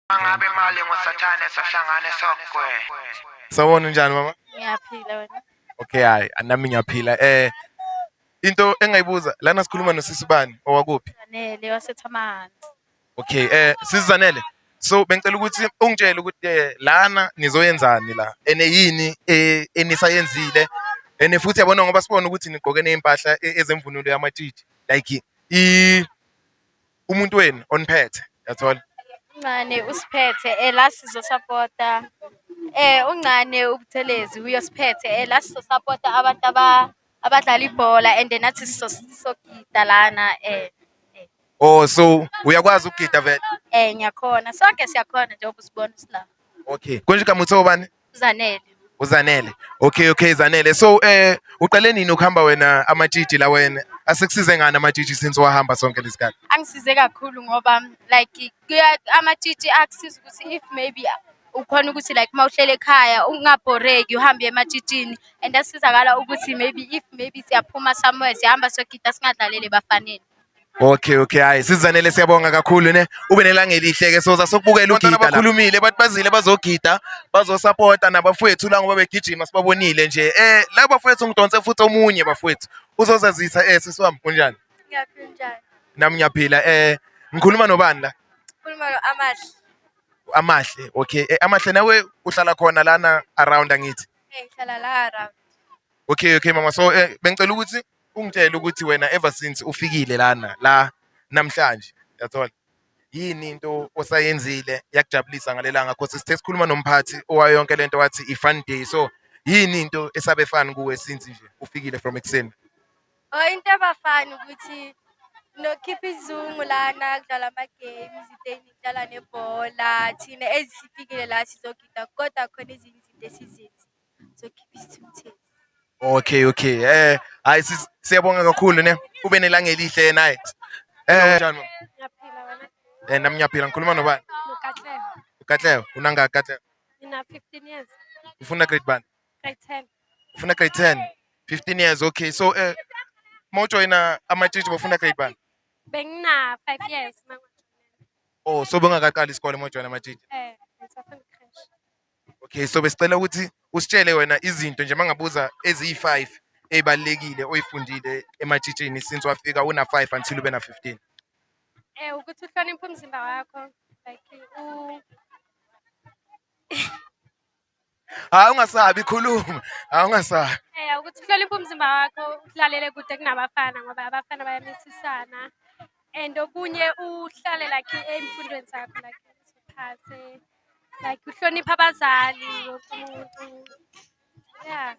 Mangabe imali ngosathane sahlangane sokwe. Sawona unjani mama? Ngiyaphila wena. Okay hayi nami ngiyaphila eh into engayibuza lana sikhuluma nosisi bani owakuphi? Zanele wasethamani. Okay eh sisi Zanele so bengicela ukuthi ungitshele ukuthi eh, lana nizoyenzani la ene yini eh, enisayenzile ene futhi yabona ngoba sibona ukuthi nigqoke nezimpahla eh, ezemvunulo yamatshitshi like i umuntu wenu oniphethe yathola uncane usiphethe eh la sizosapota eh uncane ubuthelezi uyosiphethe eh la sizosapota abantu aba abadlala ibhola and nathi sizogida lana eh Oh so uyakwazi ukugida vele? Eh ngiyakhona. Sonke siyakhona njengoba usibona sila. Okay. Konje kamuthi obani? Zanele. UZanele. Okay okay Zanele. So eh uqale nini ukuhamba wena amatshitshi la wena? Asekusize ngani amatshitshi since wahamba sonke lesikhathi? Angisize kakhulu ngoba like kuya amatshitshi akusiza ukuthi if maybe ukhona ukuthi like uma uhlele ekhaya ungabhoreki uhambe ematshitshini and asizakala ukuthi maybe if maybe siyaphuma somewhere siyahamba siyogida singadlalele bafaneni. Okay okay hayi sizanele siyabonga kakhulu ne ube nelanga elihle ke soza sokubukela ugida bakhulumile bathi bazile bazogida bazosupporta nabafowethu la ngoba begijima sibabonile nje eh la bafowethu ngidonse futhi omunye bafowethu uzozazisa eh sisiwami kunjani ngiyaphila njani nami ngiyaphila eh ngikhuluma nobani la ngikhuluma no Amahle Amahle okay eh, Amahle nawe uhlala khona lana around angithi eh hlala la around okay okay mama so eh bengicela ukuthi Ungitshele ukuthi wena ever since ufikile lana la namhlanje yathola yini into osayenzile yakujabulisa ngalelanga because sithe sikhuluma nomphathi owayo yonke lento wathi i-fun day so yini into esabe fani kuwe since nje ufikile from ekuseni Oh into ebafani ukuthi nokhipha izungu lana kudlala ama-games ideni kudlala nebhola thina ezifikile la sizogida kodwa khona ezinye izinto esizenzi Okay okay. Eh hayi sis- siyabonga kakhulu ne. Ube nelanga elihle naye. Eh njani? mama? Ngiyaphila wena Eh nami ngiyaphila ngikhuluma nobani? Nokatleho. Katleo, unanga Katleo. Ngina 15 years. Ufuna grade bani? Grade 10. Ufuna grade 10. 15 years okay. So eh mawujoyina amatshitshi bofuna grade bani? Bengina 5 years manje. Oh so bengakaqali isikole mawujoyina amatshitshi. Eh, ngisafunda Okay, so besicela ukuthi usitshele wena izinto nje mangabuza eziyi-five ey'balulekile oyifundile ematshitshini since wafika una-five until ube na-fifteen. Eh ukuthi uhloniphe umzimba wakho like u Hhayi ungasabi khuluma, hhayi ungasabi. Eh ukuthi uhloniphe umzimba wakho ulalele kude kunabafana ngoba abafana bayamithisana and okunye uhlale like emfundweni zakho like uziphathe like uhlonipha abazali wonke umuntu yeah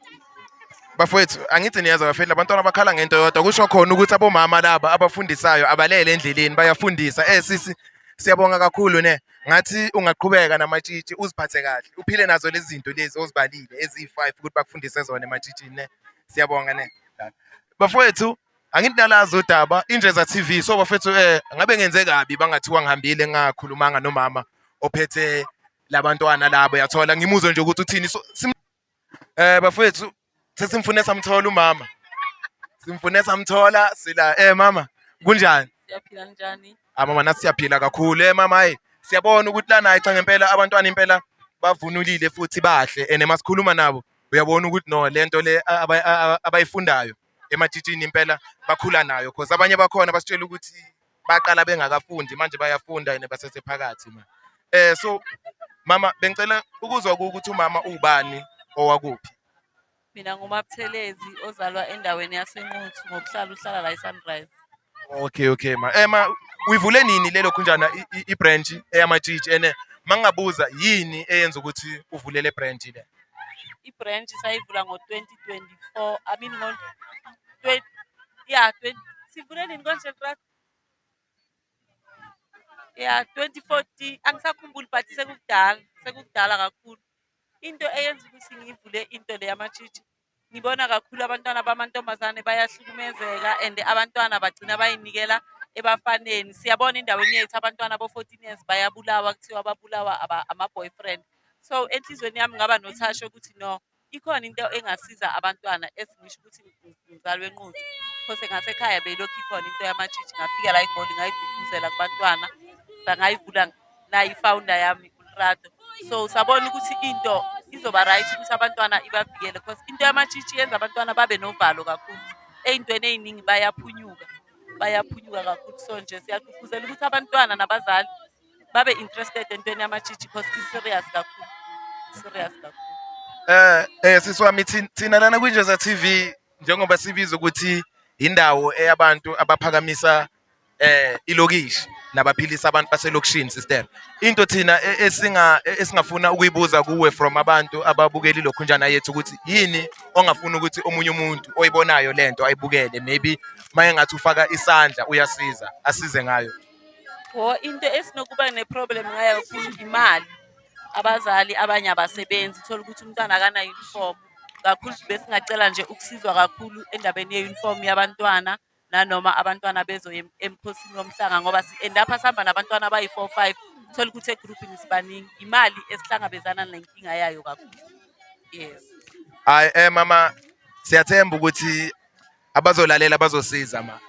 bafowethu angithi niyazi abafethu abantwana bakhala ngento yodwa kusho khona ukuthi abomama laba abafundisayo abalele endleleni bayafundisa eh sisi siyabonga kakhulu ne ngathi ungaqhubeka namatshitshi uziphathe kahle uphile nazo lezi zinto lezi ozibalile eziyi-five ukuthi bakufundise zona ematshitshini ne siyabonga ne bafowethu Angithi nalazi udaba injeza TV so bafethu eh ngabe ngenze kabi bangathiwa ngihambile ngakhulumanga nomama ophethe labantwana labo yathola ngimuzwe nje ukuthi uthini so sim- eh bafethu sesimfune samthola umama simfune samthola sila eh mama kunjani siyaphila njani ah mama nathi siyaphila kakhulu eh mama hayi siyabona ukuthi lana hayi cha ngempela abantwana impela bavunulile futhi bahle and masikhuluma nabo uyabona ukuthi no lento le a- aba- a- a- abayifundayo ematshitshini impela bakhula nayo cause abanye bakhona basitshela ukuthi baqala bengakafundi manje bayafunda and basesephakathi ma eh so mama bengicela ukuzwa ukuthi umama ubani owakuphi mina ngumabuthelezi ozalwa endaweni yasenquthu ngokuhlala uhlala la esunrise Okay okay ma. Eh ma uyivule nini lelo khunjana i-branch eyamatshitshi ene mangabuza yini eyenza ukuthi uvule le branch le? I-branch sayivula ngo-2024 I mean ngo yeah 20 sivule nini konje brother? Yeah 2014 angisakhumbuli but sekukudala sekukudala kakhulu. Into eyenza ukuthi ngiyivule into le yamatshitshi Ngibona kakhulu abantwana bamantombazane bayahlukumezeka and abantwana bagcina bayinikela ebafaneni. Siyabona endaweni yethu abantwana bo-14 years bayabulawa kuthiwa babulawa ama-boyfriend. So enhlizweni yami ngaba nothasho ukuthi no ikhona into engasiza abantwana esingisho ukuthi ngizalwe nquthu. Because ngasekhaya beyilokhu ikhona into yamajiji ngafika la eGoli ngayigqugquzela kubantwana ngayivula la i-founder yami uLerato so sabona ukuthi into izoba right ukuthi abantwana ibavikele because into yamatshitshi yenza abantwana babe novalo kakhulu ey'ntweni ey'ningi bayaphunyuka bayaphunyuka kakhulu so nje siyagqugquzela ukuthi abantwana nabazali babe interested entweni yamatshitshi because i-serious kakhulu serious kakhulu Eh eh sisi wami thin- thina lana kwinjeza TV njengoba sibiza ukuthi indawo eyabantu abaphakamisa eh ilokishi nabaphilisa abantu baselokishini sister into thina e- esinga e- esingafuna ukuyibuza kuwe from abantu ababukela ilokhunjana yethu ukuthi yini ongafuna ukuthi omunye umuntu oyibonayo lento ayibukele maybe maye ngathi ufaka isandla uyasiza asize ngayo Wo into esinokuba neproblem ngayo kakhulu imali. Abazali abanye abasebenzi thola ukuthi umntwana akana uniform. Kakhulu besingacela nje ukusizwa kakhulu endabeni ye uniform yabantwana. nanoma abantwana bezoya em- emkhosini womhlanga ngoba si-end up sihamba nabantwana abayi-four five uthole ukuthi egrubhini sibaningi imali esihlangabezana nenkinga yayo kakhulu yes Hayi eh mama siyathemba ukuthi abazolalela bazosiza ma.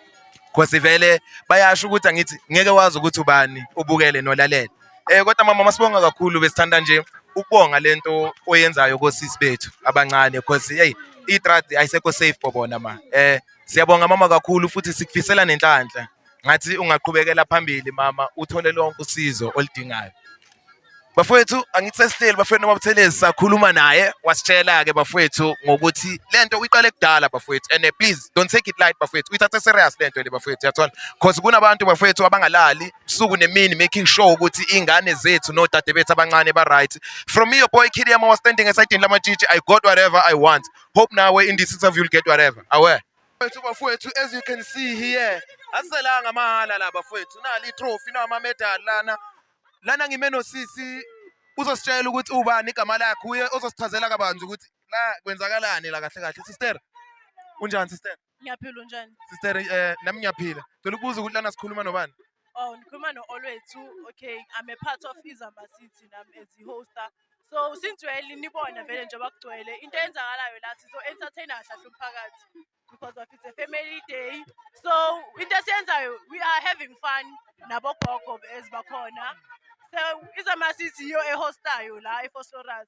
Cause vele bayasho ukuthi angithi ngeke wazi ukuthi ubani ubukele nolalela. Eh kodwa mama masibonga kakhulu besithanda nje ukubonga lento oyenzayo kosisi bethu abancane cause hey itrad ayisekho safe for bona ma. Eh Siyabonga mama kakhulu futhi sikufisela nenhlanhla. Ngathi ungaqhubekela phambili mama uthole lonke usizo oludingayo. Bafowethu angithi sesihleli bafowethu noma Buthelezi sakhuluma naye wasitshela ke bafowethu ngokuthi lento uyiqale kudala bafowethu and eh, please don't take it light bafowethu uyithathe serious lento le bafowethu yathola because kunabantu bafowethu abangalali usuku nemini making sure ukuthi ingane zethu nodade bethu abancane ba right from me your boy Kidiyama was standing esidini lamatshitshi I got whatever I want hope nawe in this interview you'll get whatever aware Bafethu bafethu as you can see here asiselanga mahala la bafethu nali trophy nama medal lana lana ngime nosisi uzositshela ukuthi ubani igama lakhe uye ozosichazela kabanzi ukuthi la kwenzakalani la kahle kahle sister kunjani sister Ngiyaphila unjani? Sister eh nami ngiyaphila. Cela ukubuza ukuthi lana sikhuluma nobani? Oh ngikhuluma no Olwethu. Okay, I'm a part of Izamba City nami as the hoster. So since we're nibona vele nje bakugcwele into eyenzakalayo la sizo entertainer kahle umphakathi because of it's a family day. So into esiyenzayo we are having fun nabo gogo ezibakhona. So Izamba City yo ehostayo la eFosloras.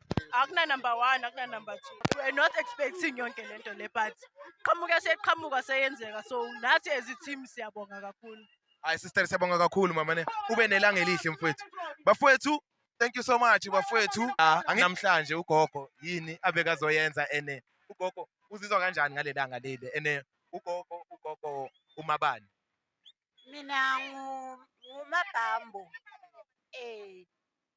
akuna number one akuna number two we're not expecting yonke le nto le but qhamuka seqhamuka seyenzeka so nathi as i-team siyabonga kakhulu hayi sister siyabonga kakhulu mama ne ube nelanga elihle mfowethu bafowethu thank you so much bafowethu ah, namhlanje ugogo yini abekazoyenza ene ugogo uzizwa kanjani ngalelanga leli ene ugogo ugogo umabani mina ngumabhambo eh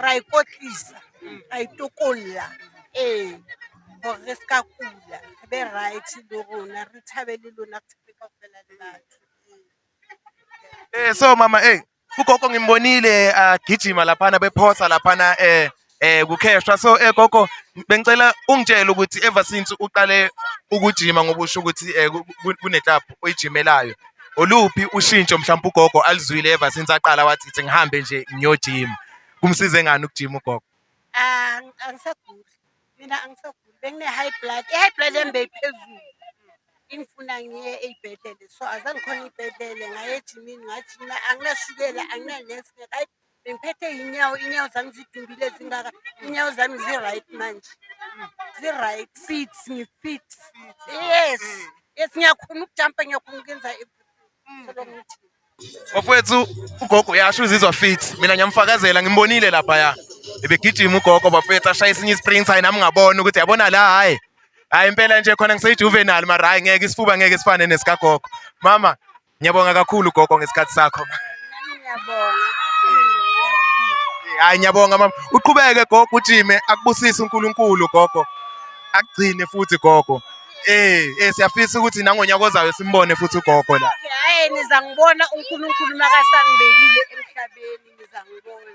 ra e kotlisa ra e tokolla ee gore re se ka kula re be right le rona re thabe le lona re thabe ka fela le batho Eh so mama eh ugogo ngimbonile agijima laphana bephosa laphana eh eh kukheshwa so eh gogo bengicela ungitshele ukuthi ever since uqale ukujima ngoba usho ukuthi eh, ku- ku- kuneclub oyijimelayo oluphi ushintsho mhlawumbe ugogo alizwile ever since aqala wathi ithi ngihambe nje ngiyojima kumsize ngani ukujima ugogo ah, angisaguli mina angisaguli bengine-high blood i-high blood yami beyiphezulu ingifuna ngiye ey'bhedlele so azangikhona iy'bhedlele ngaye ejimini ngajima anginashukela anginanesi bengiphethe inyawo inyawo zami zidumbile zingaka inyawo zami zi-right manje zi-right fit ngi-fit yes yes ngiyakhona ukujampa ngiyakhona ukuyenza solongithi bafowethu ugogo uyasho uzizwa fit mina ngiyamfakazela ngimbonile laphaya ebegijima ugogo bafowethu ashaya esinye isprint hayi nami ngabona ukuthi yabona la hhayi hhayi impela nje khona ngiseyijuvenal mara hhayi ngeke isifuba ngeke sifane nesikagogo mama Ngiyabonga kakhulu gogo ngesikhathi sakho. Ngiyabonga. Hayi ngiyabonga mama. Uqhubeke gogo ujime akubusise uNkulunkulu gogo. Akugcine futhi gogo. Eh, eh siyafisa ukuthi nangonyaka ozayo simbone futhi ugogo la. Hayi niza ngibona uNkulunkulu makasangibekile emhlabeni niza ngibona.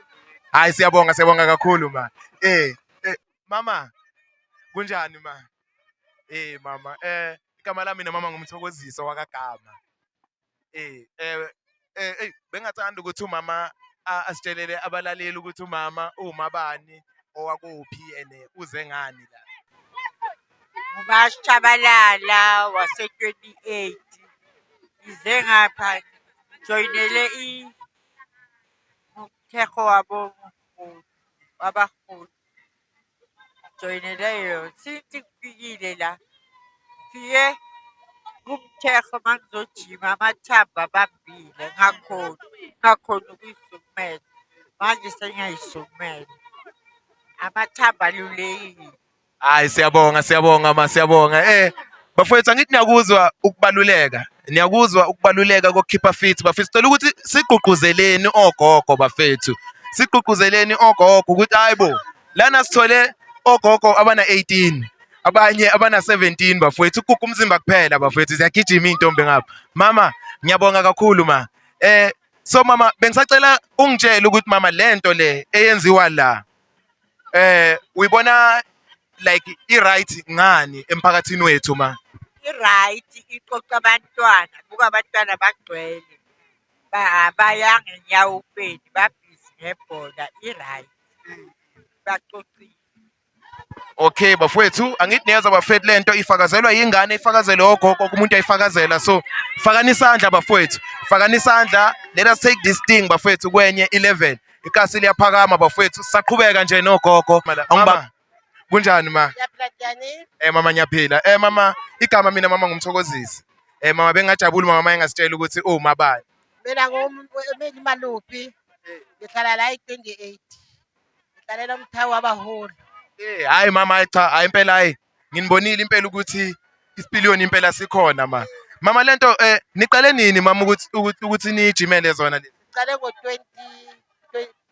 Hayi siyabonga siyabonga kakhulu ma. Eh, eh mama kunjani ma? Eh mama eh igama lami nomama ngumthokoziso wakagama. Eh eh eh bengathanda ukuthi umama asitshelele abalaleli ukuthi umama uwumabani owakuphi and uze ngani la. UMashabalala wase-28 ngize ngapha joyinele umthetho wabo wabaholi. Joinele yona. Since ngifikile la. Ngifike kumthekho uma ngizojima amathambo abambile ngakhona ngakhona ukuyisukumela. Manje sengiyayisukumela. Amathambo alulekile. Hayi siyabonga siyabonga ma siyabonga eh Bafowethu angithi niyakuzwa ukubaluleka. Niyakuzwa ukubaluleka kokukhipha fit bafethu. Sicela ukuthi sigqugquzeleni ogogo bafethu. Sigqugquzeleni ogogo ukuthi hayibo lana sithole ogogo abana 18 abanye abana 17 bafowethu ukuguga umzimba kuphela bafowethu ziyagijima izintombi ngapha. Mama ngiyabonga kakhulu ma. Eh so mama bengisacela ungitshele ukuthi mama lento le eyenziwa la Eh uyibona like i-right ngani emphakathini wethu ma? I-right iqoqa abantwana, buka abantwana bagcwele baya ngenyawo uPedi babhizi ngebhola i-right baqoqile. Okay bafwethu angithi niyeza bafethu lento ifakazelwa yingane ifakazelwe ogogo umuntu ayifakazela so fakani isandla bafwethu fakani isandla let us take this thing bafwethu kwenye 11 Ikasi liyaphakama bafowethu sisaqhubeka nje nogogo. Angiba kunjani ma? Eh mama ngiyaphila. Eh mama igama mina mama ngumthokozisi. Eh mama bengajabula uma mama engasitshela ukuthi uma bani. Mina ngumuntu mina imaluphi. Ngihlala la i-28. Ngihlalela umthawu wabaholi. Eh hayi mama hayi cha hayi impela hayi nginibonile impela ukuthi isipiliyoni impela sikhona ma mama lento um eh, niqale nini mama ukuthi ukuthi ukuthi niyijimele zona lezi siqale ngo-twenty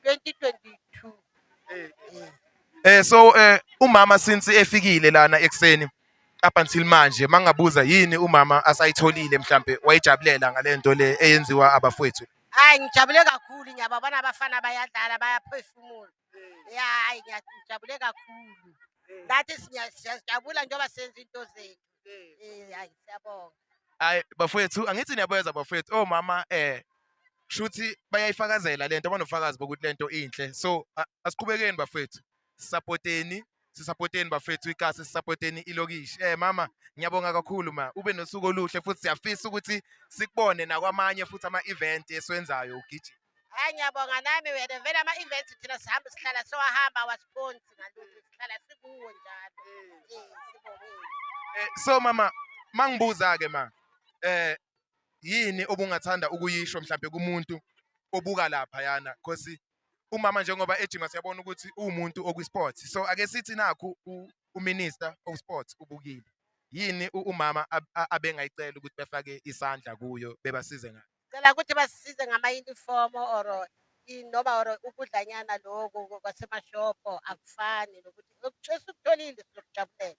twenty twenty two um so um umama since efikile lana ekuseni up until manje mangabuza yini umama asayitholile mhlampe wayijabulela ngale nto le eyenziwa abafowethu hayi ngijabule kakhulu ngiyababona abafana bayadlala bayaphefumula Eh. Ya, hayi ngiyajabule kakhulu. Eh. Nathi siya- siyajabula njengoba senza into zethu. Eh. Eh, hayi siyabonga. Hayi bafowethu angithi niyabeza bafowethu omama eh shuthi bayayifakazela lento abanofakazi bokuthi lento inhle. So a- asiqhubekeni bafowethu. Supporteni sisapoteni bafethu ikasi sisapoteni ilokishi eh mama ngiyabonga kakhulu ma ube nosuku oluhle futhi siyafisa ukuthi sikubone nakwamanye futhi ama event esiwenzayo ugijima hayi ngiyabonga nami wena vele ama event thina sihamba sihlala siwahamba awasiphonsi ngalutho sihlala sikuwo njalo eh sibongile eh so mama mangibuza ke ma eh yini obungathanda ukuyisho mhlawumbe kumuntu obuka lapha yana because Umama njengoba ejima siyabona ukuthi uwumuntu okwiSports. So ake sithi nakhu uMinister of Sports ubukile. Yini umama abengayicela ukuthi befake isandla kuyo bebasize ngayo? Cela ukuthi basisize ngama-uniform or noma or ukudlanyana lokho kwasemashopho akufani nokuthi esikutholiile sizokujabulela.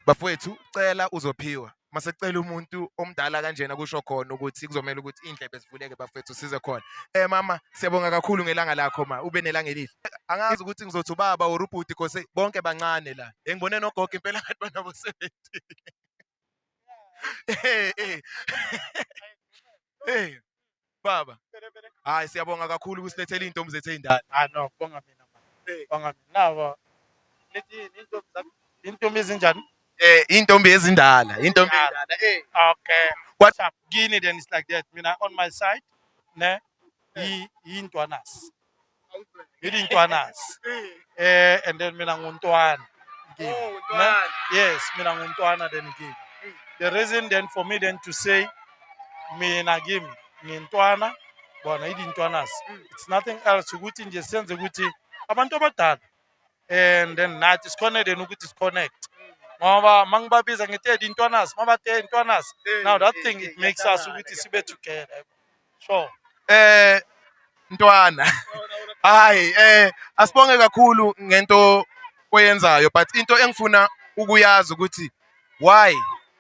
Bafowethu cela uzophiwa. Mase cela umuntu omdala kanjena kusho khona ukuthi kuzomela ukuthi indlebe zivuleke bafethu size khona. Eh mama siyabonga kakhulu ngelanga lakho ma ube nelanga elihle. Angazi ukuthi ngizothi ubaba or ubhuti cause bonke bancane la. Engibone nogogo impela ngathi banabo 70. Eh eh. Eh. Baba. Hayi siyabonga kakhulu ukusilethela izintombi zethu ezindala. Ah no, bonga mina mama. Eh. Bonga mina. Nabo. Lethi intombi zakho. Intombi ezinjani? Eh intombi ezindala, intombi ezindala. Eh. Okay. What up? Kini then it's like that. Mina on my side ne eh. yi yintwanas. Ngidi Ntwanas. Eh and then mina nguNtwana. Ngidi. Oh, Ne? Ntwana. Yes, mina nguNtwana then ngidi. The reason then for me then to say mina kimi ngintwana bona idi Ntwanas. It's nothing else ukuthi nje senze ukuthi abantu abadala and then nathi sikhone then ukuthi siconnect. Ngoba mangibabiza ngithi edi Ntwanas, mabathe Ntwanas. Now that thing it makes us ukuthi sibe together. Sure. Eh ntwana. Hayi eh asibonge kakhulu ngento oyenzayo but into engifuna ukuyazi ukuthi why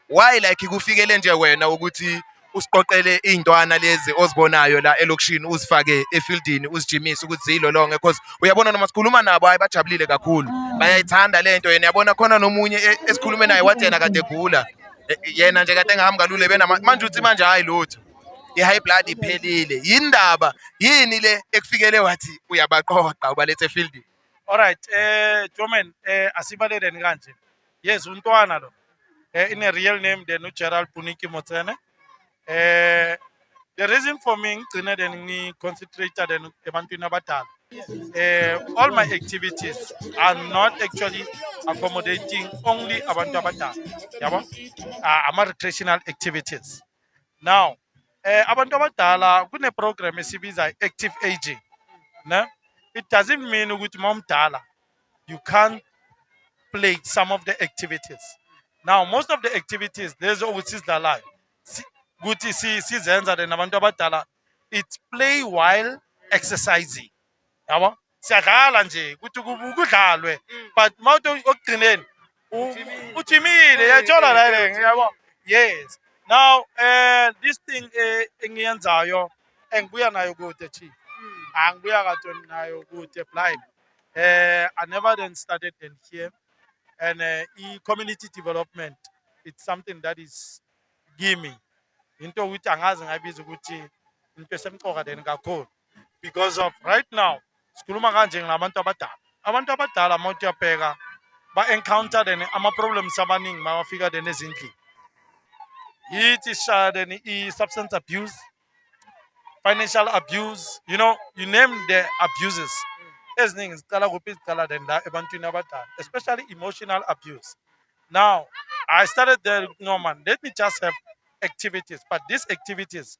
why like kufikele nje wena ukuthi usiqoqele iy'ntwana lezi ozibonayo la elokishini uzifake efieldini uzijimise ukuthi ziyilolonge because uyabona noma sikhuluma nabo hayi bajabulile kakhulu bayayithanda le nto yena yabona khona nomunye e- esikhulume naye wathi yena kade egula E- yena nje kade engahambi kalule benama manje uthi manje hhayi lutho i-high blood iphelile yindaba yini le ekufikele wathi uyabaqoqa ubalethe efieldini alright eh Joman eh asibaleleni kanje yes untwana lo eh in a real name then uGerald Puniki Motsene eh the reason for me ngigcine then ngi concentrate then ebantwini abadala eh all my activities are not actually accommodating only abantu abadala yabo ah, ama recreational activities now eh abantu abadala kune program esibiza active aging ne it doesn't mean ukuthi mawumdala you can't play some of the activities now most of the activities lezo ukuthi sizidlalayo ukuthi sizenza nabantu abadala it's play while exercising yabo siyadlala nje ukuthi kubu- kudlalwe but uma uthi okugcineni u- uthimile yayithola la le yabo yes now eh this thing eh, engiyenzayo engibuya nayo kude chief angibuya katoni nayo kude blind eh i never then started then here and eh, i community development it's something that is gimme into ukuthi angazi ngayibiza ukuthi into esemqoka then kakhulu because of right now sikhuluma kanje ngilabantu abadala abantu abadala uma uyabheka ba-encounter then ama-problems abaningi mawafika then ezindlini yithi shaya then i-substance abuse financial abuse you know you name the abuses eziningi ziqala kuphi ziqala then la ebantwini abadala especially emotional abuse now i started there no man let me just have activities but these activities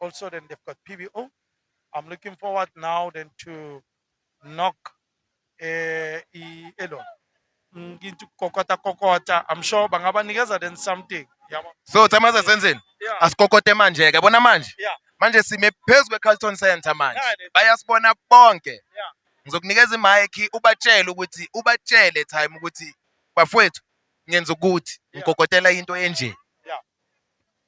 Also, then they've got PBO. I'm looking forward now then to knock eh i- elon ngithi kokota kokota i'm sure bangabanikeza then something yabo so thama sasenzeni yeah asikokote manje ke bona manje Yeah. manje sime phezu kwe-carlton center manje Yeah, they- bayasibona bonke Yeah. ngizokunikeza imayikhi ubatshele ukuthi ubatshele time ukuthi bafowethu ngenza ukuthi Yeah. ngikokotela into enje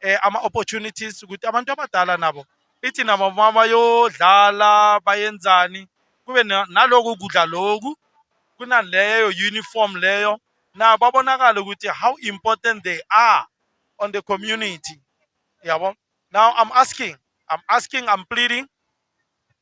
eh, ama-opportunities ukuthi abantu abadala nabo ithi nabo uma bayodlala bayenzani kube na- naloku kudla loku kunaleyo uniform leyo nabo babonakale ukuthi how important they are on the community yabo now i'm asking i'm asking i'm pleading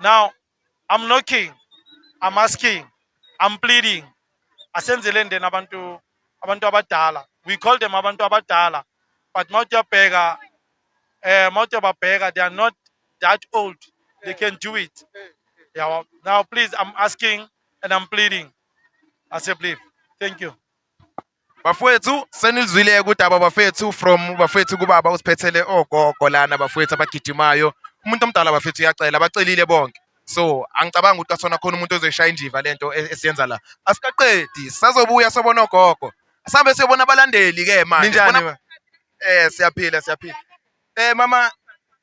now i'm knocking i'm asking i'm pleading asenzeleni then abantu abantu abadala we call them abantu abadala but mawuthi uyabheka eh mawuthi uyababheka they are not that old they can do it yeah now please i'm asking and i'm pleading i say please thank you Bafowethu senilizwile kudaba bafethu from bafethu kubaba usiphethele ogogo lana bafowethu abagijimayo umuntu omdala bafethu uyacela abacelile bonke so angicabangi ukuthi kasona khona umuntu ozoyishaya indiva lento e-, esiyenza la asikaqedi sazobuya sobona ogogo sambe siyobona abalandeli ke manje ninjani eh siyaphila siyaphila eh mama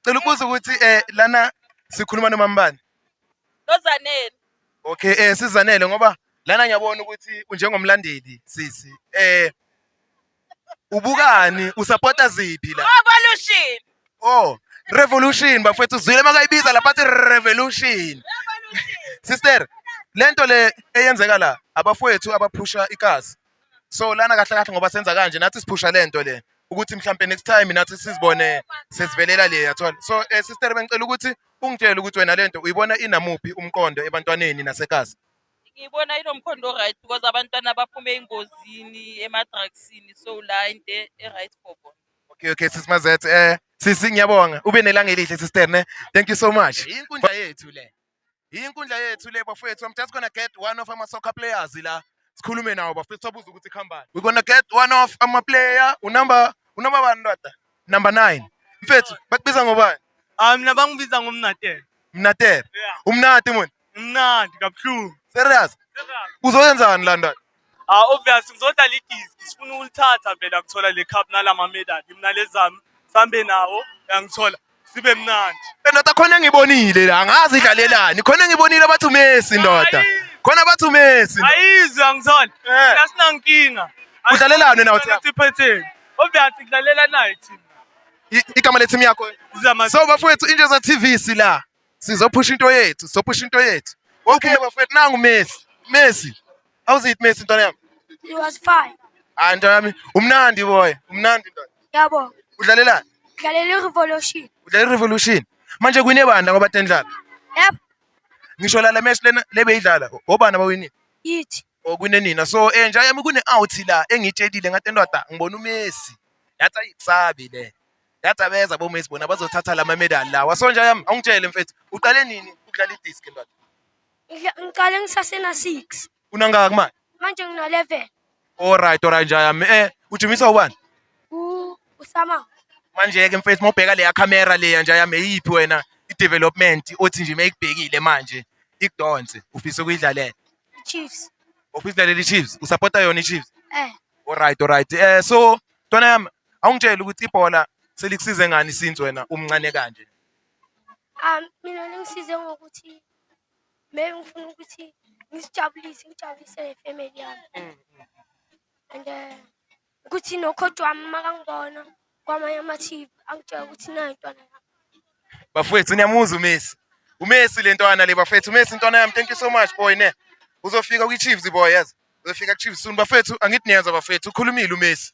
cela ukubuza ukuthi eh lana sikhuluma nomambani Lozanele. Okay, eh sizanele ngoba lana ngiyabona ukuthi unjengomlandeli sisi. Eh ubukani usupporta ziphi la? Revolution. Oh, revolution bafethu uzwile makayibiza lapha athi revolution. Sister, lento le eyenzeka la abafowethu abaphusha ikazi so lana kahle kahle ngoba senza kanje nathi siphusha le nto le ukuthi mhlampe next time nathi sizibone sesivelela le yathola so um sister bengicela ukuthi ungitshele ukuthi wena le nto uyibona inamuphi umqondo ebantwaneni nasekhasi ngiyibona inomkhondo o-right because abantwana baphume engozini emadrugsini so la into e- e-right for bona okay okay sisi mazet um sisi ngiyabonga ube nelanga elihle sister ne thank you so much inkundla yethu le Inkundla yethu le bafowethu. I'm just gonna get one of ama soccer players la. Sikhulume nawo bafethu sabuza ukuthi khambani. We're gonna get one of ama player unumber unumber bani ndoda? Number 9. Mfethu bakubiza ngobani? Ah mina bangibiza ngomnatela. Mnatere. Yeah. Umnati muni. Mnandi kabuhlungu. Serious? Uzoyenzani la ndoda? Ah obvious ngizodlala idiski sifuna ukulithatha vele akuthola le cup nalama medal mina lezami sambe nawo yangithola sibe mnandi. Ndoda khona ngibonile la angazi idlalelani khona ngibonile abathi uMessi ndoda. Khona abathi uMessi. Ayizwe angithola. Eh. Mina sinankinga. Udlalelani wena uthi? Sithi phetheni. Obvious kudlalela nayo team. I- Igama le team yakho. Zama So bafowethu Indloza TV sila. Sizophusha into yethu, sizophusha into yethu. Okay bafethu nangu Messi. Messi. How's it Messi ntwana yami? He was fine. Hayi ntwana yami, umnandi boy, umnandi ntwana. Yabo. Udlalelani? Udlalela i-Revolution. Udlalela i-Revolution. Manje kwine bani ngoba tendlala? Yep. Ngisho la le match lena lebeyidlala, obani abawinile? Yithi. Okwine oh, nina. So eh nja yami kune out la engitshelile ngathi entwada ngibona uMessi. Yathi ayisabi le. Yathi abeza boMesi bona bazothatha lama medal lawa. So nje yami awungitshele mfethu uqale nini ukudlala idisk ndoda? Ngidla- Ngiqale ngisasena six. Unangaka kumanje? Manje ngino eleven. Alright alright nje yami. Eh ujimiswa ubani? U usama. Manje ke mfethu mawubheka leya camera leya nje yami eyiphi wena i-development othi nje meyikubhekile manje ikudonse ufisa ukuyidlalela. Chiefs. Ufisa idlalela iChiefs? Usupporta yona iChiefs? Eh. Alright alright. Eh so ntwana yami Awungitshele ukuthi ibhola selikusize ngani since wena umncane kanje. Ah mina lingisize ngokuthi maybe ngifuna ukuthi ngisijabulise ngijabulise nefamily yami. Mm, mm, mm. And eh, ukuthi nokhoti wami makangibona kwamanye ama-TV angitshela ukuthi nayo intwana yami. Bafowethu niyamuzwa uMessi. UMessi le ntwana le bafowethu uMessi intwana yami thank you so much boy ne. Uzofika kwi-Chiefs boy yazi. Uzofika ku-Chiefs soon bafowethu angithi niyezwa bafowethu ukhulumile uMessi.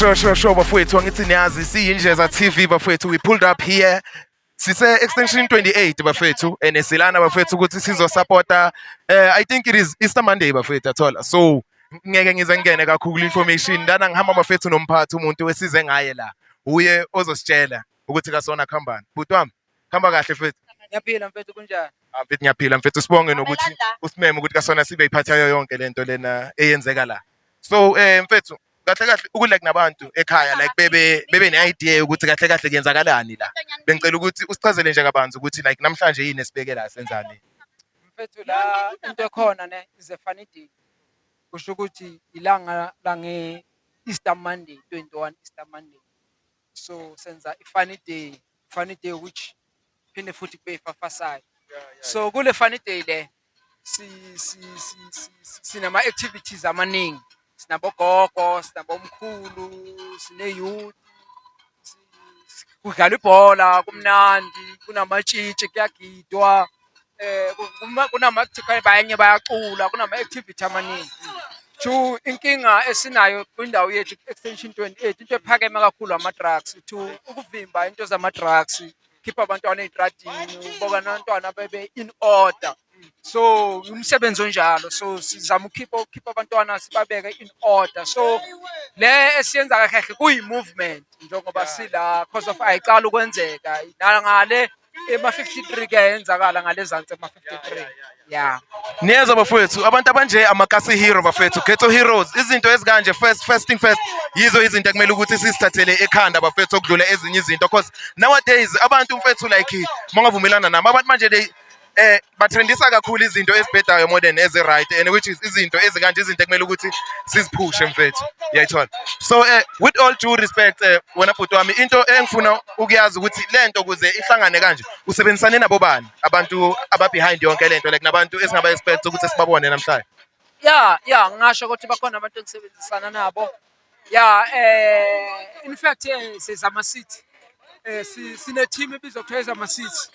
sure sure sure bafowethu angithi niyazi siyindleza TV bafowethu we pulled up here sise extension 28 bafethu and silana bafethu ukuthi sizo supporta uh, eh, i think it is Easter Monday bafethu athola so ngeke ngize ngene kakhulu information ndana ngihamba bafethu nomphathi umuntu wesize ngaye la uye ozositshela ukuthi kasona khambani bhuti wami Hamba kahle mfethu. Ngiyaphila mfethu kunjani? Ah mfethu ngiyaphila mfethu sibonge nokuthi usimeme ukuthi kasona sibe iphathayo yonke lento lena eyenzeka la. So eh mfethu kahle kahle ukulek nabantu ekhaya like bebe bebe ne-idea yokuthi kahle kahle kuyenzakalani la bengicela ukuthi usichazele nje kabanzi ukuthi like namhlanje yini esibeke la senzani mfethu la into ekhona ne is a funny day kusho ukuthi ilanga lange Easter Monday 21 Easter Monday so senza i-funny day funny day which phinde futhi kube ifafasayo so kule funny day le sinama-activities amaningi sinabogogo sinabomkhulu sine-youth kudlalwa ibhola kumnandi kunamatshitshi kuyagidwa um kunama-actical banye bayacula kunama-activity amaningi two inkinga esinayo kwindawo yethu extension 28 into ephakeme kakhulu ama-drugs two ukuvimba into zama-drugs khipha abantwana ey'tradini uboka nabantwana bebe in order so umsebenzi onjalo so sizama ukhipha ukukhipha abantwana sibabeke in order so le esiyenza kahle kahle kuyi-movement njengoba sila cause of ayiqala ukwenzeka nangale ema-53 kuyayenzakala ngalezansi ema-53 ya niyeza bafowethu abantu abanje amakasi hero bafowethu ghetto heroes izinto ezikanje first first thing first yizo izinto ekumele ukuthi sizithathele ekhanda bafowethu okudlula ezinye izinto cause nowadays abantu mfethu like mangavumelana nami abantu manje they eh batrendisa kakhulu izinto ezibhedayo more than ezi right and which is izinto ezikanje izinto ekumele ukuthi siziphushe mfethu uyayithola so eh with all due respect eh wena bhuti wami into engifuna ukuyazi ukuthi lento kuze ihlangane kanje usebenzisane nabo bani abantu aba behind yonke lento like nabantu esingaba expect ukuthi sibabone namhlanje yeah yeah ngasho ukuthi bakhona abantu engisebenzisana nabo Yeah, eh in fact eh sizama City. Eh si- sine team ebizwa kuthiwa ezama City.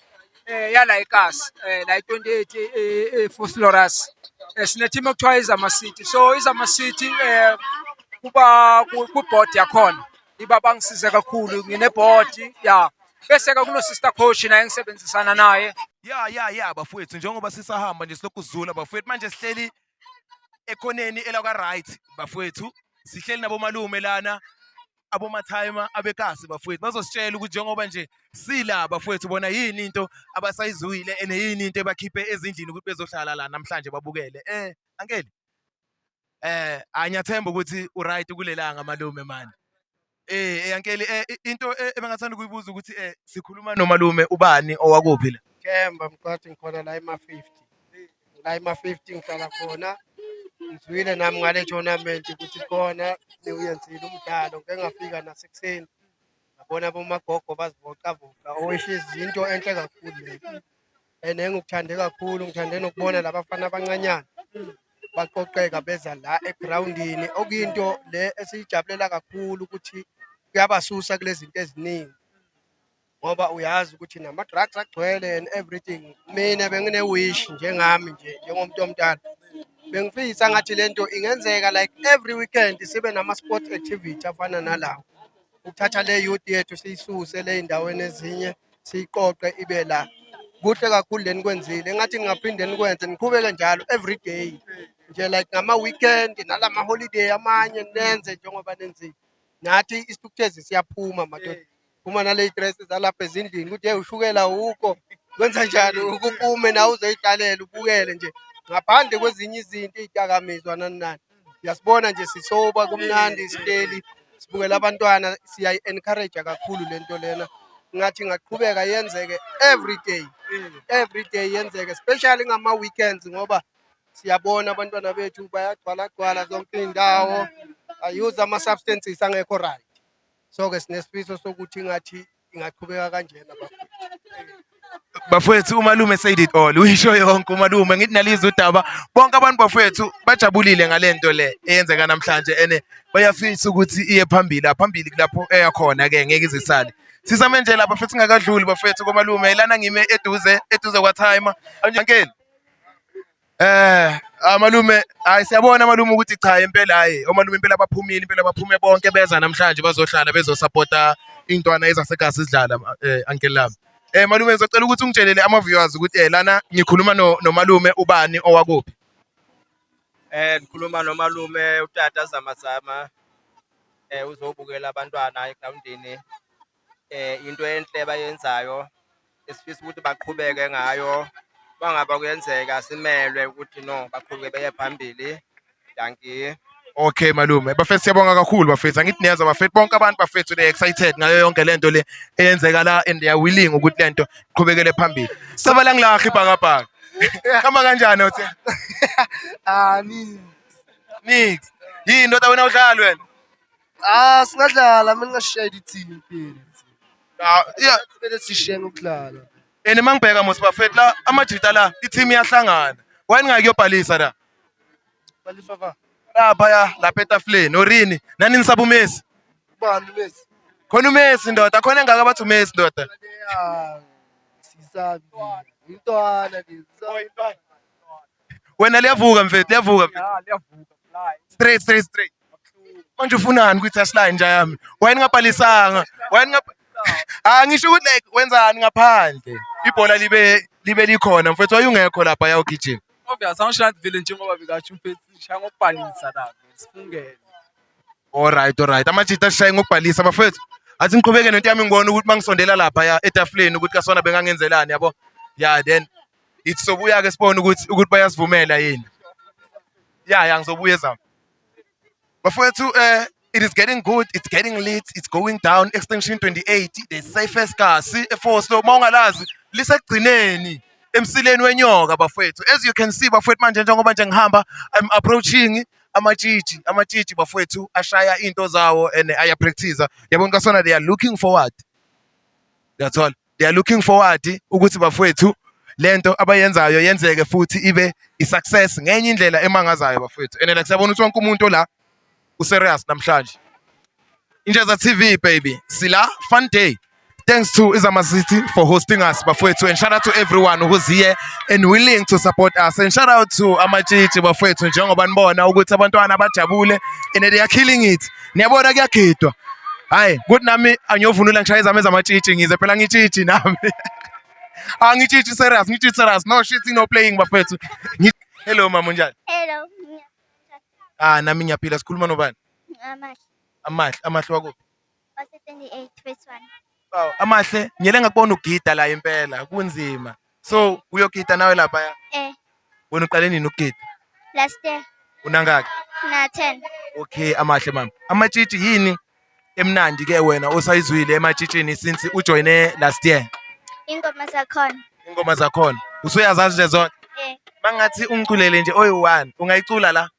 Eh yala eKasi, eh la 28 eh eh, Fort Loras. Eh sine team ekuthiwa ezama City. So izama City eh kuba ku ku board yakhona. Iba bangisize kakhulu ngine board yeah. Bese ke kuno sister coach naye ngisebenzisana naye. ya ya ya bafowethu njengoba sisahamba nje silokhu sizula bafowethu manje sihleli ekhoneni elakwa right bafowethu sihleli nabomalume lana abomathayima abekasi bafowethu bazositshela ukuthi njengoba nje sila bafowethu bona yini into abasayizuyile ene yini into ebakhiphe ezindlini ukuthi bezohlala la namhlanje babukele eh ankeli eh anyathemba ukuthi uright kulelanga malume manje Eh, Yankeli, eh, i- into eh, ebengathanda ukuyibuza ukuthi eh, sikhuluma nomalume ubani owakuphi la? Kemba mqathi ngikhona la ema-50 la ema-50 ngihlala khona ngizwile nami ngale tournament ukuthi khona niwuyenzile umdlalo ngike ngafika nasekuseni ngabona bomagogo bazivocavoca oishizi yinto enhle kakhulu leyo and engikuthande kakhulu ngithande nokubona labafana abancanyana baqoqeka beza la egrawundini okuyinto le esiyijabulela kakhulu ukuthi kuyabasusa kulezi zinto eziningi ngoba uyazi ukuthi nama-drugs agcwele and everything mina bengine-wish njengami nje njengomuntu omdala bengifisa ngathi le nto ingenzeka like every weekend sibe nama-sport activity afana nalawo ukuthatha le youth yethu siyisuse le ey'ndaweni ezinye siyiqoqe ibe la kuhle kakhulu le nikwenzile engathi ningaphinde nikwenze niqhubeke njalo every day nje like ngama-weekend nala ma-holiday amanye nenze njengoba nenzile nathi isithukuthezi siyaphuma madoda phuma naley'dresi zalapha ezindlini ukuthi yeyi ushukela wukho kwenza njani ukupume nawe uzoyidlalela ubukele nje ngaphandle kwezinye izinto iy'dakamizwa nani nani Uyasibona nje sisoba kumnandi sihleli sibukela abantwana siyayi-encourage kakhulu le nto lena ngathi ingaqhubeka yenzeke every day every day yenzeke especially ngama-weekends ngoba siyabona abantwana bethu bayagcwalagcwala zonke iy'ndawo ayuze ama-substances angekho right so-ke sinesifiso sokuthi ngathi ingaqhubeka kanjena bafowethu umalume said it all uyisho yonke umalume ngithi nalizwe udaba bonke abantu bafowethu bajabulile ngalento le eyenzeka namhlanje ene bayafisa ukuthi iye phambili aphambili kulapho eya khona ke ngeke izisale sisame nje lapha futhi ngakadluli bafowethu komalume ilana ngime eduze eduze kwa timer ankeni Eh amalume hayi siyabona amalume ukuthi cha impela hayi omalume impela baphumile impela baphume bonke beza namhlanje bazohlala bezosupporta intwana ezasegasi sidlala eh uncle lami. Eh malume ngizocela ukuthi ungitshelele ama viewers ukuthi eh lana ngikhuluma no nomalume ubani owakuphi. Eh ngikhuluma nomalume utata Zamazama eh uzobukela abantwana egrawundini into enhle abayenzayo esifisa ukuthi baqhubeke ngayo bangaba kuyenzeka simelwe ukuthi no baqhubeke beye phambili dankie Okay malume bafethu siyabonga kakhulu bafethu angithi niyeza bafethu bonke abantu bafethu they excited ngayo yonke lento le eyenzeka la and they are willing ukuthi lento iqhubekele phambili sabala ngilakhi ibhakabhaka kama kanjani uthi ah nix nix yini ndoda wena udlala wena Ah singadlala mina ngashaya ithini impela. Ah, iya- Kumele sishiyene ukudlala. and uma ngibheka mos bafet la amajita la i-team iyahlangana why ningakuyobhalisa la Balifa ba. laphaya lapha etafuleni orini nani nisaba umesi Ubani mesi? khona umesi ndoda khona engaka bathi umesi ndoda Ya. Sisabi. Intwana lezi. Wena liyavuka mfethu, liyavuka mfethu. Ya, liyavuka fly. Straight straight straight. Manje ufunani kwi touch line nja yami? Why ningabhalisanga? Why ningab Ah ngisho ukuthi like wenzani ngaphandle. Ibhola libe libe likhona mfethu wayungekho lapha yawugijima. Obvious angisho vile njengoba bekasho mfethu shaya ngokubhalisa la. Sifungele. Alright alright. Amajita ashaye ngokubhalisa bafethu. Athi ngiqhubeke nento yami ngibona ukuthi mangisondela lapha ya etafuleni ukuthi kasona bengangenzelani yabo. Yeah then Ithi sobuya ke sibone ukuthi ukuthi bayasivumela yini. Yeah, yeah ngizobuya ezami. Bafowethu eh it is getting good, it's getting late, it's going down extinction 28, the safest car CFO so mawungalazi lisekugcineni emsileni wenyoka bafowethu. As you can see bafowethu manje njengoba nje ngihamba I'm approaching amatshitshi amatshitshi bafowethu ashaya into zawo and ayapractice yabona kasona they are looking forward that's all they are looking forward ukuthi bafowethu lento abayenzayo yenzeke futhi ibe i-success ngenye indlela emangazayo bafowethu and like siyabona ukuthi wonke umuntu la userious namhlanje Injaza TV baby sila fun day thanks to Izama City for hosting us bafowethu and shout out to everyone who's here and willing to support us and shout out to amatshitshi bafowethu njengoba nibona ukuthi abantwana bajabule and they are killing it niyabona kuyagidwa hayi kuthi nami angiyovunula ngishaye zami ezamatshitshi ngize phela ngitshitshi nami angitshitshi serious ngitshitshi serious no shit no playing bafethu hello mama unjani hello ah nami ngiyaphila sikhuluma nobani amahle amahle amahle wakuphi wase 28 phase 1 Wow, amahle ngiyele ngakubona ugida la impela kunzima so uyogida nawe lapha Eh, wena uqale nini ukugida last year unangaki na 10. okay amahle mama amatshitshi yini emnandi ke wena osayizwile ematshitshini since ujoyine last year Ingoma zakhona. ingoma zakhona usuyazazi nje zonke Eh, mangathi ungiculele nje oyi-one ungayicula la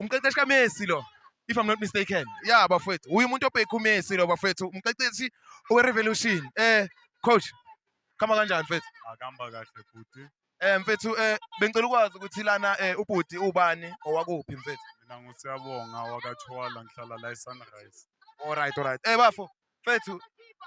umqeqeshi kaMessi lo if I'm not mistaken ya bafethu uye umuntu obhekha uMessi lo bafethu umqeqeshi owerevolution eh coach khama kanjani mfethu akamba kahle futhi eh mfethu eh bengicela ukwazi ukuthi lana eh ubhuti ubani owakuphi mfethu mina ngusiyabonga wakathwala ngihlala la eSunrise alright alright eh bafo Mfethu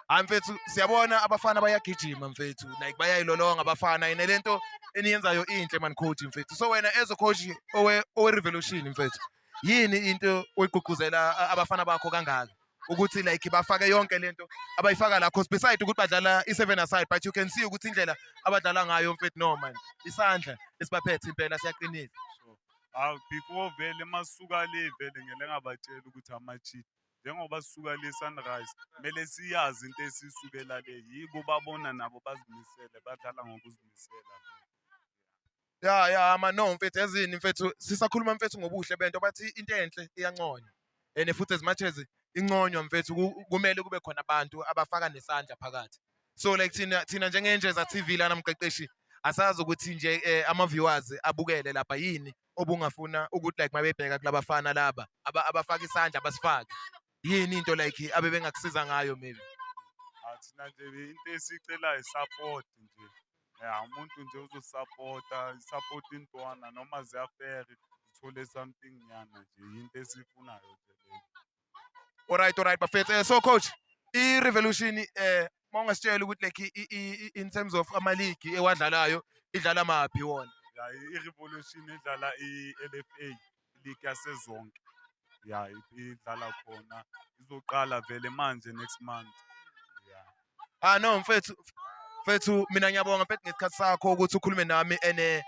hayi mfethu siyabona abafana bayagijima mfethu like bayayilolonga abafana yena lento eniyenzayo inhle man coach mfethu so wena as a coach owe owe revolution mfethu yini into oyigqugquzela abafana bakho kangaka ukuthi like bafake yonke lento abayifaka la cause beside ukuthi badlala i-seven aside but you can see ukuthi indlela abadlala ngayo mfethu no man isandla esibaphethe impela siyaqinisa awu before vele masuka le vele ngele ngabatshela ukuthi ama-cheat Njengoba sisuka le Sunrise kumele siyazi into esisukela le yibo babona nabo bazimisele badlala ngokuzimisela. Ya ya ama no mfethu ezini mfethu sisakhuluma mfethu ngobuhle bento bathi into enhle iyanconywa. And futhi as much as inconywa mfethu kumele kube khona abantu abafaka nesandla phakathi. So like thina thina njengenjeza TV lana mqeqeshi asazi ukuthi nje eh, ama viewers abukele lapha yini obungafuna ukuthi like mabebheka kulabafana laba abafaka isandla basifake yini into like abebengakusiza ngayo maybe athina nje into esicela support nje ya umuntu nje uzosupporta support intwana noma ziyafere zithole something nyana nje into esifunayo nje leyo Alright alright bafethu. Eh, so coach, i Revolution eh mawungasitshela ukuthi like in terms of ama league ewadlalayo idlala maphi wona? Yeah, i Revolution idlala i LFA league yasezonke. Yeah, idlala khona. Izoqala vele manje next month. Yeah. Ah no mfethu mfethu mina ngiyabonga mfethu ngesikhathi sakho ukuthi ukhulume nami ene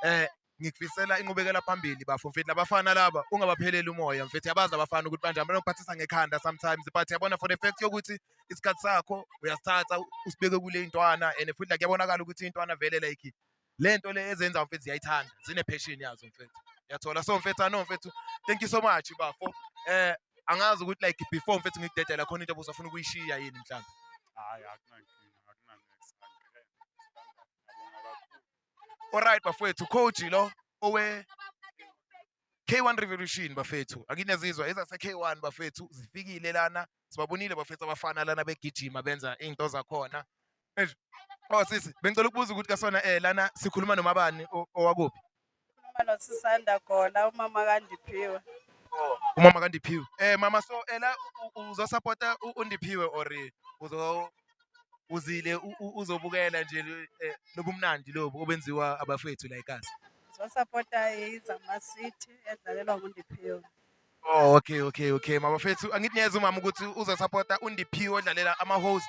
eh ngikufisela inqubekela phambili bafo mfethu labafana laba ungabapheleli umoya mfethu yabazi abafana ukuthi banje abanokuphathisa ngekhanda sometimes but yabona for the fact yokuthi isikhathi sakho uyasithatha usibeke kule intwana and futhi like yabonakala ukuthi intwana vele like le nto le ezenza mfethu ziyayithanda zine-passion yazo mfethu yathola so mfethu ano mfethu thank you so much bafo um eh, angazi ukuthi like before mfethu ngikudedela khona into obusafuna ukuyishiya yini mhlawumbe hayi akunankinga akunanexangibonga kakhulu Alright bafethu coach lo owe K1 Revolution bafethu akinezizwa ezase K1 bafethu zifikile lana sibabonile bafethu abafana lana begijima benza izinto zakhona Oh sisi bengicela ukubuza ukuthi kasona eh lana sikhuluma nomabani owakuphi Mama sisanda gola umama kandiphiwe oh, umama kandiphiwe eh mama so ela eh, uzo supporta undiphiwe or uzo uzile uzobukela nje eh, lobumnandi lobu obenziwa abafethu la eKasi sosapota izama city edlalelwa ngundiphiyo Oh okay okay okay mabafethu angithi niyeza umama ukuthi uzosapota undiphiyo odlalela ama-host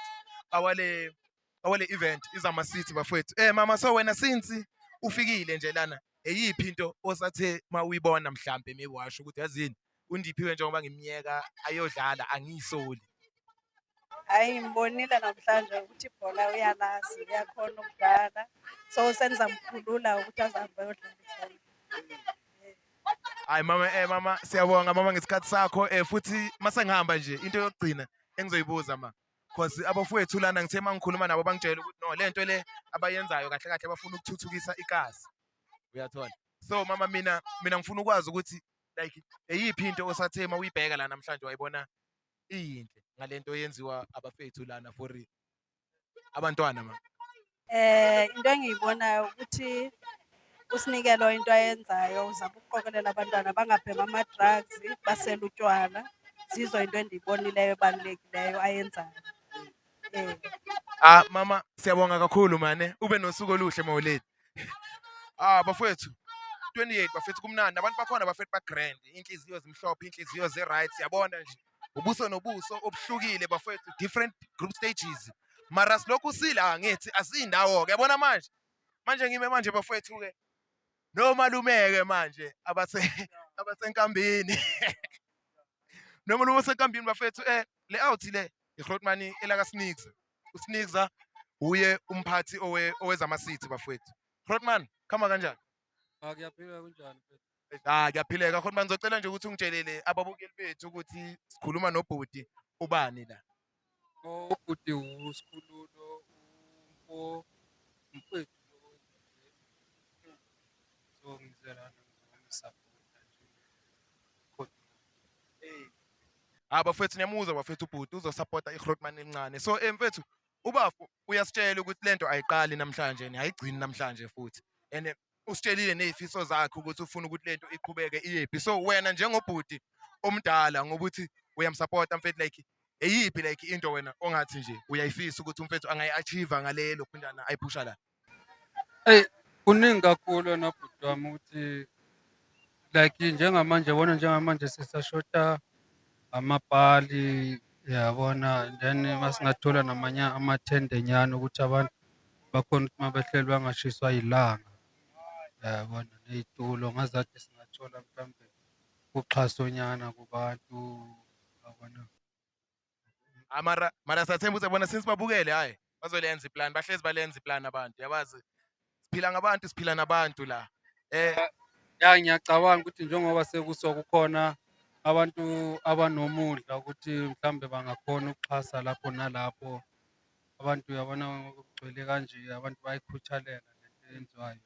awale awale event izama city bafethu eh mama so wena since ufikile nje lana eyiphi into osathe mawuyibona mhlambe maybe washo ukuthi yazini UNdiphiwe njengoba ngimyeka ayodlala angiyisoli. Hayi ngibonile namhlanje ukuthi ibhola uyalazi uyakhona ukudlala so senizamkhulula ukuthi azahambe ayodlala ibhola. Hayi mama eh mama siyabonga mama ngesikhathi sakho eh futhi masengihamba nje into yokugcina engizoyibuza ma because abafowethu lana ngithe mangikhuluma nabo bangitshela ukuthi no lento le abayenzayo kahle kahle bafuna ukuthuthukisa ikazi uyathola so mama mina mina ngifuna ukwazi ukuthi like eyiphi into osathe uma uyibheka la namhlanje wayibona iyinhle ngale nto yenziwa abafethu lana for abantwana ma Eh into engiyibonayo ukuthi uSinikelo into ayenzayo uzama ukuqokelela abantwana bangabhema ama-drugs basele utshwala. Zizwa into endiyibonileyo ebalulekileyo ayenzayo. Eh. Ah mama siyabonga kakhulu mane ube nosuku oluhle mawoledi. Ah bafethu 28 bafethu kumnandi abantu bakhona bafethu ba grand inhliziyo zimhlophe inhliziyo ze right siyabona nje ubuso nobuso obuhlukile bafethu different group stages mara silokhu sila ah, ngithi asindawo ke yabona manje manje ngime manje bafethu ke nomalumeke manje abase abasenkambini noma lume senkambini bafethu eh le out le igrotmani elaka snix uSnikza uye umphathi owe owezama city bafowethu Hrotman khama kanjani Ah kuyaphila kunjani mfethu? ah kuyaphileka Hrotman ngizocela nje ukuthi ungitshelele ababukeli bethu ukuthi sikhuluma nobhuti ubani la Oh ubhuti uSikhululo umfo mfethu lo wenziwe. So ngizela nami ngizomsapota nje. Kodwa hey Ah bafethu niyamuzwa bafethu ubhuti uzosupporta iGrootman elincane. So eh mfethu ubafo uyasitshela ukuthi lento ayiqali namhlanje ni ayigcini namhlanje futhi. And eh, usitshelile nezifiso zakhe ukuthi ufuna ukuthi lento iqhubeke iyephi. So wena njengobhuti omdala ngokuthi uyamsupporta mfethu like eyiphi like into wena ongathi nje uyayifisa ukuthi umfethu angayi-achieve ngalelo phindana ayiphusha la. Eyi kuningi kakhulu wena bhuti wami ukuthi like njengamanje yabona njengamanje sisashoda amapali yabona then masingathola namanye amathende nyana ukuthi abantu bakhona ukuthi mabehleli bangashiswa yilanga yabona ney'tulo ngazathi singathola mhlawumbe uxhasonyana kubantu yabona. Ah, mara mara sathemba ukuthi bona since babukele hayi bazolenza iplan bahlezi balenza iplan abantu yabazi siphila ngabantu siphila nabantu la eh ya ngiyacabanga ukuthi njengoba sekuso kukhona abantu abanomudla ukuthi mhlambe bangakhona ukuxhasa lapho nalapho abantu uyabona kugcwele kanje abantu bayikhuthalela lento eyenziwayo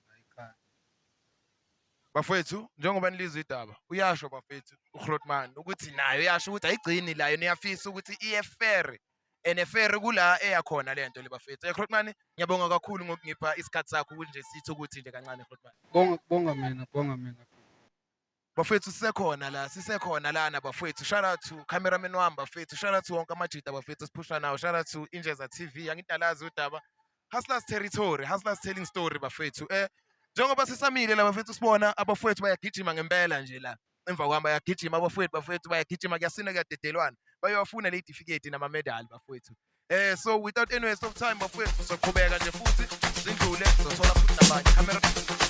Bafwethu njengoba nilizwa idaba uyasho bafwethu uGrotman ukuthi nayo yasho ukuthi ayigcini layo niyafisa ukuthi iye fair and fair kula eyakhona lento le bafwethu. Eh Grotman ngiyabonga kakhulu ngokungipha isikhathi sakho ukuthi nje sithi ukuthi nje kancane Grotman. Bonga bonga mina, bonga mina. Bafwethu sisekhona la, sisekhona lana bafwethu. Shout out to cameraman wami bafwethu. Shout out to wonke amajita bafwethu esiphusha nawo. Shout out to Injeza TV. Angidalazi udaba. Hustlers territory, hustlers telling story bafethu. Eh njengoba sisamile la bafethu sibona abafethu bayagijima ngempela nje la. Emva kwami bayagijima abafethu bafethu bayagijima kuyasina kuyadedelwana. Bayowafuna le certificate nama medal bafethu. Eh so without any waste of time bafethu soqhubeka nje futhi sindlule sothola futhi nabanye. Camera